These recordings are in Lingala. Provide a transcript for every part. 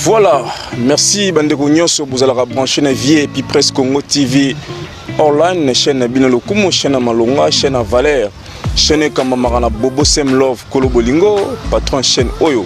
Voilà, merci bandeko nyonso bozalaka branché na vie et puis presse Congo TV online chaîne na bino lokumu chaîne ya malonga chaîne ya valeur chaîne ekambamaka na bobo sem love kolo bolingo patron chaîne oyo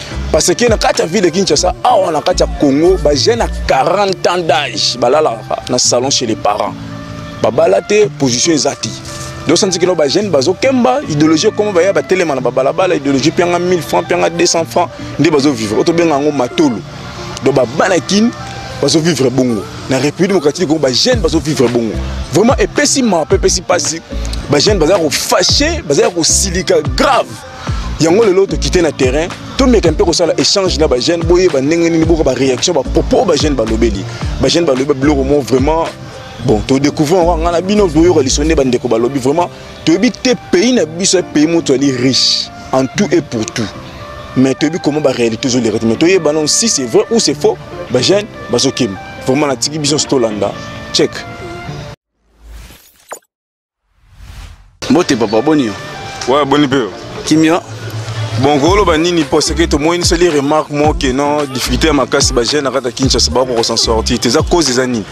parce que na kati ya ville de kinshasa awa na kati ya congo bajeune ya 40 ans d'âge balalaka na salon chez les parents babala te position eza te dosanti kino bajeune bazokemba idéologie ekoma baya batelema na babalabala idéologie mpianga 1000 francs mpianga 200 francs nde bazovivre oyo tobenga yango matolo donc babana kini bazovivre bongo na république démocratique congo bajeune bazovivre bongo vraiment epesi mawa mpe epesi mpasi bajeune bazala kofashe bazala kosilika grave yango lelo tokite na terrain tomeka mpe kosala échange na bajeune boyeba ndenge nini boka baréaction bapropos oyo bajeune balobeli bajeune balobi babiloko mo vraiment bon todécouvre yango ngai na bino boyoka liso nde bandeko balobi vraiment toyebi te pays na biso ya pays moto ali riche en tout et pour tout mais toyebi comment baréalité ezoleka te mais toyeba nano si c'est vrai ou c'est faux bajeune bazokima vraiment natiki biso nyonso tolanda check mbote papa boni yo ouais, boni mpe yo kimia bon koloba nini mpo seke tomoniseli remarque moko ke non difficulté ya makasi bajeune na kati ya kinshasa bakoka kosan sortir te eza cause eza nini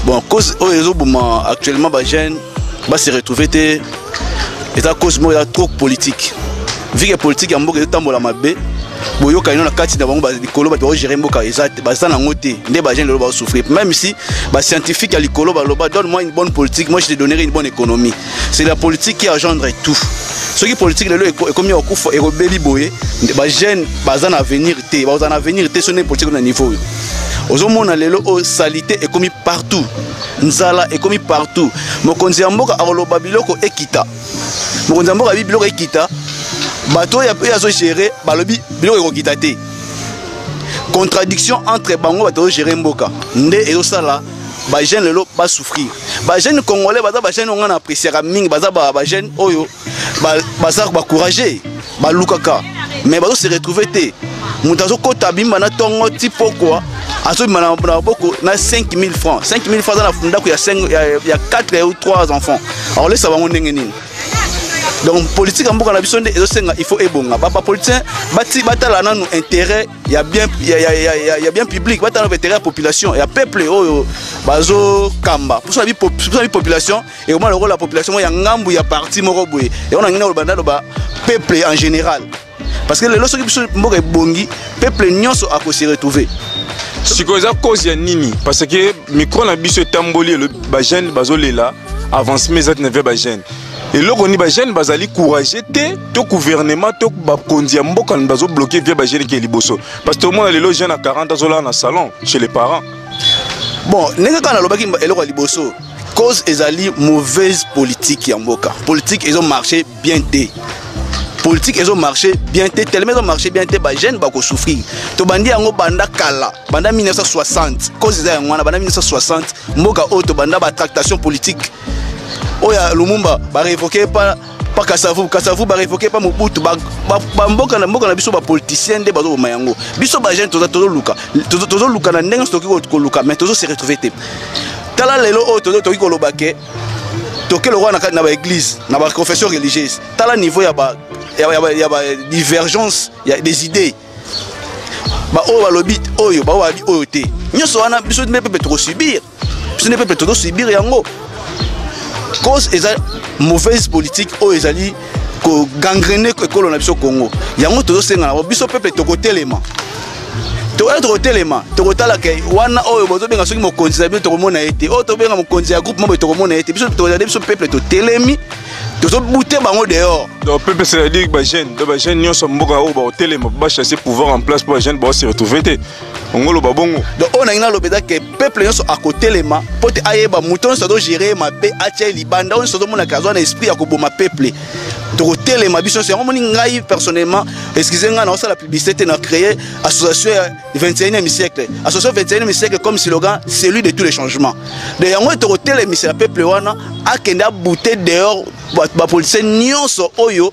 bon cause oyo ezoboma actuellement bajeune base retrouve te eza cause moko ya trop politique vu que politique ya mboka ezotambola mabe boyokani na kati na bango likolo bato baogere mboka baza nango te nde bagene lelo baosouffrir même si bascientifique ya likolo baloba donne moi une bonne politique moi je te donnerai une bonne économie c'est la politique qui agendre tout soki politique lelo ekomi ya kokufa ekobeli boye bagene baza na avenir te bakozala na avenir te so nde politique na niveau oyo ozomona lelo oyo oh, salite ekomi partout nzala ekomi partout mokonzi ya mboka akoloba biloko ekita mokonzi ya mboka bi biloko ekita bato oyo oyo azogere balobi biloko ekokita te contradiction entre bango bato ozogere mboka nde ezosala bajeune lelo basouffrir bajeune congolais baza bajeune oyo ngai na appréciaka mingi baza bajeune oyo baza bacourage ba balukaka mais bazo se retrouver te moto azokota abimba na ntongo ti pokwa azobima na maboko na 5000 francs 5000 francs aza na ndako ya 4 ou 3 enfants akolesa bango ndenge nini donc politique ya mboka na biso nde ezosenga il faut ebonga bapoliticien batala nanu intérêt ya bien, ya, ya, ya, ya, ya bien public batala nanu intérêt ya population ya peuple oyo bazokamba mposo na bipopulation ekoma lokola population moko ya ngambu ya parti moko boye yango nangi naloba naloba peuple en général parce que lelo soki biso mboka ebongi peuple nyonso akose retrouver sikoyo eza cause ya nini parce que micro na biso etamboli bajeune bazolela avancement eza tina via bajeune eloko nini bajeune bazali courage te to gouvernement to bakonzi ya mboka bazobloke via bajeune ke liboso parce que omona lelo jeune ya 40 azolala na salon chez les parents bon ndenge kaka nalobaki eloko ya liboso cause ezali mauvaise politique ya mboka politique ezo marche bien te politique ezo marche bien te tellement ezo marche bien te bajeune bakosouffrir tobandi yango banda kala banda 1960 cause eza yango wana banda 1960 mboka oyo tobanda batractation politique oyo ya lumumba barevoke epa pa kasavu kasavu ba revoquer pa mobutu ba ba mboka na mboka na biso ba politiciens nde bazo boma yango biso ba jeunes toza tozo luka tozo luka na ndenge soki ko luka mais tozo se retrouver te tala lelo oyo tozo toki ko loba ke toke lokola na kati na ba église na ba confession religieuse tala niveau ya ba ya ba ya ba divergence ya des idées ba oyo balobi oyo ba oyo te nyonso wana biso mpe mpe tokosubir biso nde pepe tozo subir yango cause eza mauvaise politique oyo ezali kogangrene ekolo na biso congo yango tozosenga nango biso pepe tokotelema tokoya tokotelema tokotala ke wana oyo bozobenga soki mokonzi na bino tokomona ye te oyo tobenga mokonzi ya groupe moko tokomona ye te biso tozali biso peple totelemi tozobute bango dehors donc pepe c'est-à-dire bajeune donc bajeune nyonso mboka oyo bakotelema bachasse pouvoir en place mpo bajeune baose retrouve te ongoloba bongo donc oyo nangi naloba eza ke peuple nyonso akotelema mpo te ayeba moto nyonso azogere ye mabe atya ye libanda oyo nyonso azomonaka azwa na esprit ya koboma peuple tokotelema biso nyonso yango moni ngai personnellement excuse ngai naosala publicité te na créer association ya 21e siècle association 21e siècle comme slogan celui de tous les changements de yango tokotelemisa ya peuple wana akende abute dehors bapolisie nyonso oyo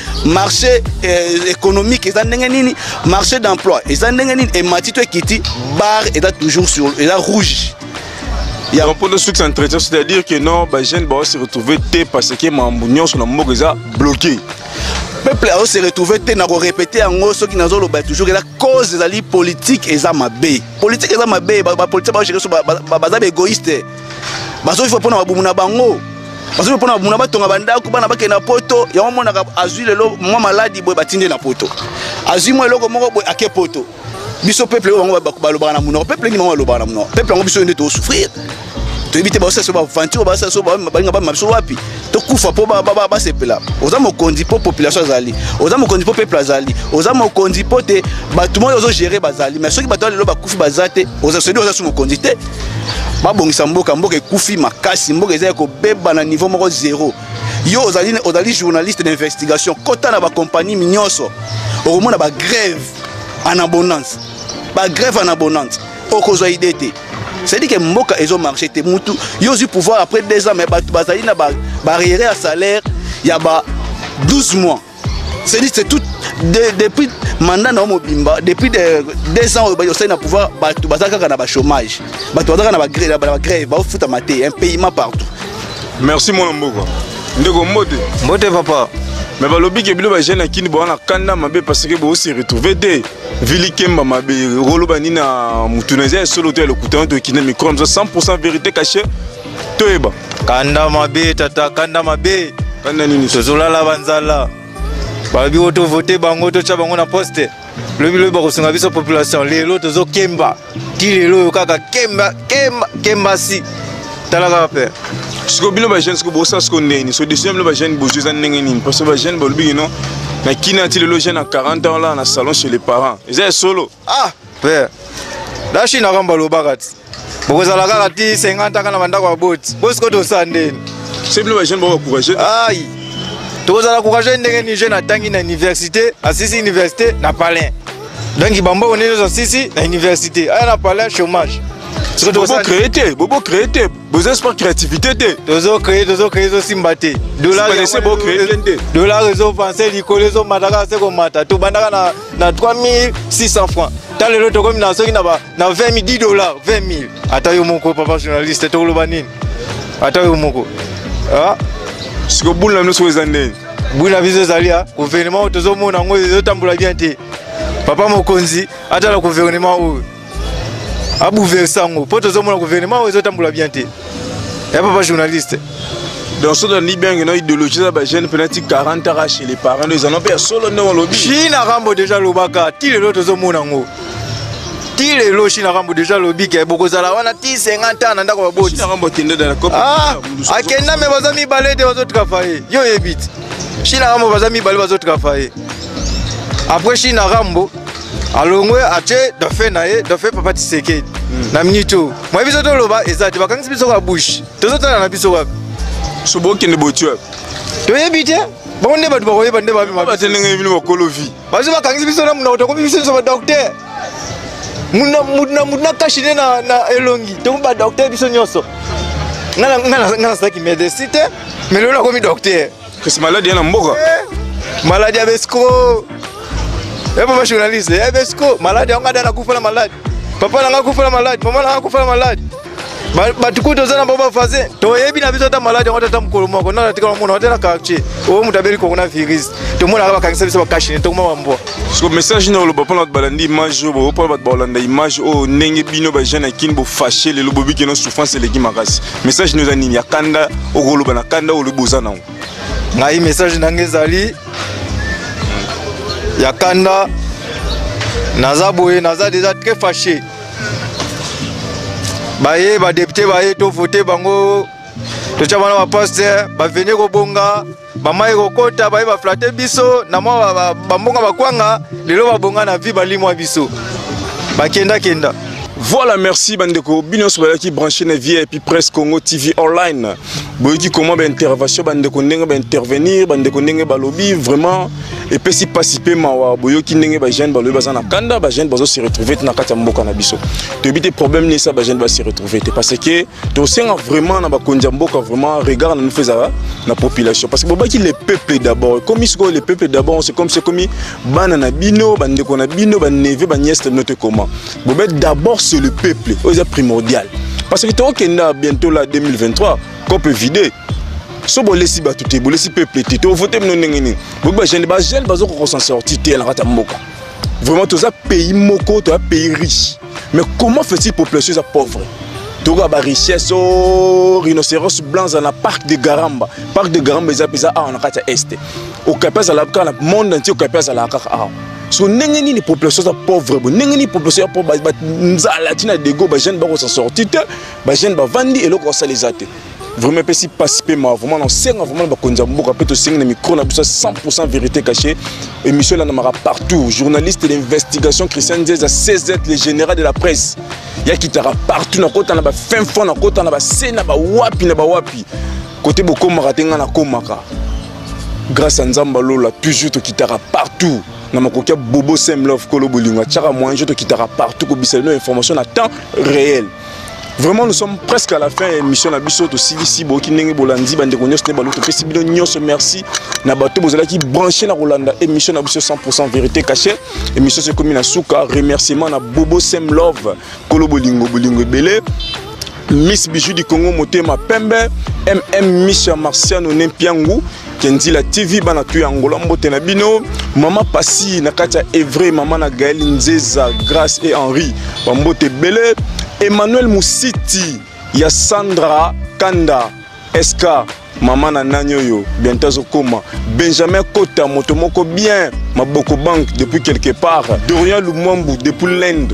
marché euh, économique eza ndenge nini marché d'emploi eza ndenge nini emati to ekiti bar eza toujours sur eza rouge ya mpo na succès entretien c'est à dire que non bajeune bao se retrouve te parce que mambo nyonso na mboka eza bloqué peuple azo se retrouve te na korepete yango soki nazoloba toujours eza cause ezali politique eza mabe politique eza mabe bapolitique baogere so baza baégoïste bazoviva mpo na babumu na bango bazoviva mpo na babumu na batonga bandako bana bakende na poto yango monaka azwi lelo mwa maladi boye batindi na poto azwi mwa eloko moko boye ake poto biso peuple oyo bango balobaka na monoko peuple nini bango balobaka na monoko peuple yango biso oyo nde tosouffrir toyebi te baosala so baventure oyo basala so balinga bamema biso wapi tokufa mpo basepela oza mokonzi mpo population azali oza mokonzi mpo peuple azali oza mokonzi mpo te bato moi ozogere bazali mais soki bato ya lelo bakufi baza te osedi oza so mokonzi te babongisa mboka mboka ekufi makasi mboka eza ya kobeba na niveau moko zero yo ozali, ozali journaliste d'investigation kota na bakompagnie nyonso okomona bagrève en abondance bagrève en abondance okozwa idée te c'est-à-dire que mboka ezo marché te mutu yo ozwi pouvoir après deux ans mais bato bazali na barrière ba ya salaire ya ba 12 mois C'est dit, c'est tout. De, depuis mandat na mobimba, depuis de, deux ans, au sein na pouvoir, bato bazaka kana ba chômage, bato bazaka na ba grève, ba grève, ba futa maté, un paiement partout. Merci mon mboko. Ndeko mbote. Mbote papa. Mais balobi ke bilo ba jeune akini bo na kanda mabe parce que bo se retrouver te. Vili kemba mabe, rolo banina mutunezia solo te le kutanto kina micro 100% vérité cachée. toyeba kanda mabe tata kanda mabe kanda nini tozolala banzala balobi oyo tovote bango totya bango na poste lobi lobi bakosunga biso population lelo tozokemba ti lelo oyo kaka kemba kemba kemba si tala kaka mpe sikoyo bino bajeune sikoyo bosa sikoyo ndeni so decision bino bajeune bozwi eza ndenge nini parce que bajeune balobi kino na kina ti lelo jeune ya 40 ans la na salon chez les parents eza ya solo ah Père, la Chine akamba lobaka ti. Bokozala kaka ti 50 kaka na bandako ya boti. Bosiko tosa ndeni. C'est bino ba jeune ba courageux. Aïe. Tokozala courageux ndenge ni jeune atangi na université, asisi université na palais. Donc bambo onene zo sisi na université. Aya na palais chômage. Siko Bobo tosa créer te, bobo créer te. Bozo espoir créativité te. tozo créer tozo créer zo simba te. Dollar Simba te, se bo créer te. Dollar ezo penser likolo ezo mata kaka se komata. Tobandaka na na 3600 francs ta lelo tokomi na soki na 20 10 dollars 20 000 ata yo moko papa journaliste tokoloba nini ata yo moko ah? siko bulu na biso eza ndenge bulu na biso ezali ya gouvernement oyo tozomona yango ezotambola bien te papa mokonzi atala gouvernement oyo abouverse yango mpo tozomona gouvernement oyo ezotambola bien te ya papa journaliste donc soki tolandi biange na idéologie eza bajeune penati 40 ara chez les parents nde ezana mpe ya solo ndenge olobi china rambo deja alobaka ti lelo tozomona yango ti lelo china rambo deja alobi ke bokozala wana ti 50 ans na ndako baboti ah, akenda me baza mibale te bazotravaye yo oyebi ti china rambo baza mibale bazotravaye après china rambo alongwe atie dauphin na ye dauphin papa tisekedi hmm. na minute oyo mwa biso toloba eza te bakangisi biso ka bouche tozotala na biso wapi sobokende botue toyebi te bango nde bato bakoyeba nde babimabate ndenge bino bakolo vi bazo bakangisi biso na monoko tokomi biso nyonso badokter moto na moto na kashi nde na elongi tokomi badokter biso nyonso nga nasalaki medecin te mais lelo nakomi dokter Kasi maladi ya na mboka. Maladi ya besco. Eh papa journaliste, eh besco, maladi yango ada nakufa na maladi. Papa nanga kufa na maladi, mama nanga kufa na maladi. Bato kutu oza na bango bavasin toyebi na biso ata maladi yango tata mokolo moko nana tikala mona ata na quartier oyo moto abeli kongo na virus tomonaka bakangisa biso bakashine tokoma bambwa siko message nini oloba mpona bato balandi image oyo boyo mpona bato baolanda image oyo ndenge bino bajeune ya kini bofashe lelo bobiki no souffrance eleki makasi message no eza nini ya kanda okoloba na kanda olobi boza nango ngai message na ngai ezali ya kanda naza boye naza deja très fâché baye badepute baye tovote bango totya bana bapaster baveni kobonga bama ekokota baye baflate biso na mwa bambonga bakwanga lelo babonga na vi balimwa biso bakendakenda Voilà, merci Bandeko. Bino Sobalaki branché na vie et puis presse Congo TV online. Boyeki comment ba intervention Bandeko ndenge ba intervenir, Bandeko ndenge ba lobby vraiment et puis si pas si peu mawa boyoki ndenge ba jeune ba lobby bazana kanda ba jeune bazo se retrouver na kati ya mboka na biso. Tobite problème ni ça ba jeune ba se retrouver parce que tosenga vraiment na bakonzi ya mboka vraiment regard na mifo ezala na population parce que bobaki le peuple d'abord ekomi sikoyo le peuple d'abord c'est comme c'est ekomi bana na bino bandeko na bino baneve baniese na bino te comment bobe d'abord c'est le peuple oyo eza primordial parce que tokokenda bientôt la 2023 cope vide so bolesi bato te bolesi peuple te tovote bino ndenge nini boyebi bajeune bajeune bazokokosa sorti te na kati ya mboka vraiment toza pays moko toza pays riche Mais comment fait-il population eza pauvre tokoka ba richesse o oh, rhinocéros blanc eza na parc de garamba parc de garamba eza mpenza awa na kati ya este okapi azalaka kaka na monde entier okapi azalaka kaka awa so ndenge nini population eza pauvre bo ndenge nini population ya pauvre nzala ntina dego bajeune bakosa sorti te bajeune bavandi eloko basala eza te vraiment epesi mpasi mpe mawa vraiment nasenga vraiment na bakonzi ya mboka mpe tosengi na micro na biso 100 vérité caché émission elandamaka partout journaliste d'investigation christian nzeza cz le général de la presse yakitaka partout nakota na bafin fond nakota na base na bawapi na bawapi kote bokomaka te ngai nakomaka grâce ya nzambe alola toujours tokitaka partout na makoki ya bobo semlove kolo bolingo atyaka moyen jo tokitaka partout kobisa bino information na temps réel vraiment nous sommes presque à la fin ya émission na biso tosilisi boyoki ndenge bolandi bandeko nyonso nde baluki topesi bino nyonso merci na bato bozalaki branché na kolanda émission na biso 100 vérité caché émission so ekomi na suka remerciement na bobo sem love kolo bolingo bolingo ebele miss bijou du congo motema pembe mm miss ya marciano nempiangu Kenzila TV bana tu ya Angola mbote na bino mama pasi na kati ya Evre mama na Gaël Nzeza Grace et Henri ba mbote bele Emmanuel Musiti ya Sandra Kanda SK mama na nani oyo bientôt azokoma benjamin kota moto moko bien maboko banque depuis quelque part dorian lumwambu depuis l'inde